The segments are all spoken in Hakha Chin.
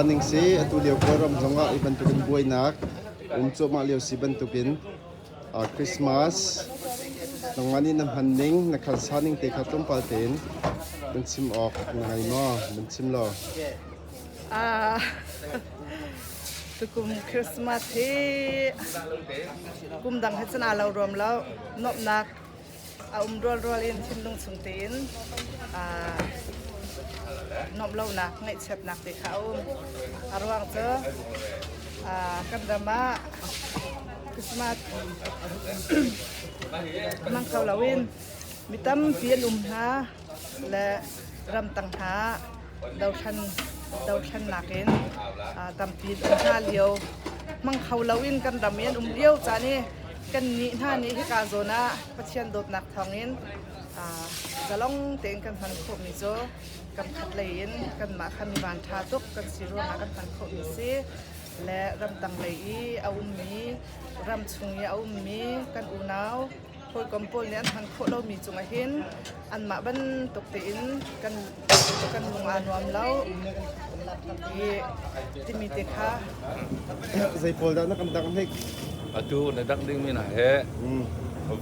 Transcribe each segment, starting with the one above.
sa ning si atu lio kawlram zongah i bantukin buainak um cuahmah lio si bantukin uh, Christmas nangmah nih na hman ning na khan sa ning te kha tlawmpal tein nan chim awk na ngai maw nan chim lo tukum Christmas hi kum dang he chan lo ruam lo nopnak a um rual rual in thinlung chung tein nom lonak ngeihchiatnak te kha a um a ruang cu kan ram ah Christmas mang kho lo in mi tampi an um hna le ramtang hna dothlennak in tampi an hna lio mang kho loin kan ram i an um lio caan i kan nih hna nih hika zawn ah Pathian dawtnak thawngin zalong tein kan hman khawhmi cu kan khat lei in kanmah khan van ṭha tuk kan si ruangah kan hman khawhmi si le ramtang lei i a ummi ram chung i a ummi kan unau hawikom pawl nih an hman khawh lomi cungah hin anmah bantuk tein kan kan lung aa nuam lo timi te kha zei pawl dah na kan dang hnik atu na dak ding mi na he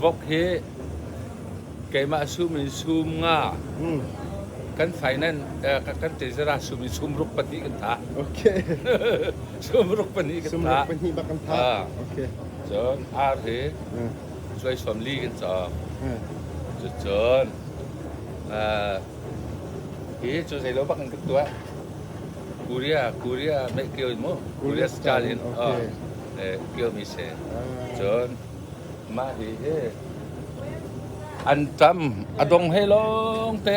vok hi keimah sum in sum nga kan finance eh, kan tezara sum in sum ruk pati kan tha okay sum ruk pani kan tha sum ruk pani ba kan tha ah. okay so ar hi suaisam li kan cam. Cucun hi cu zeilo bak in ka tuah. Korea Korea meh kio mu Korea style in kio mi se. Cun mah hi hi an tam a dong he lawng te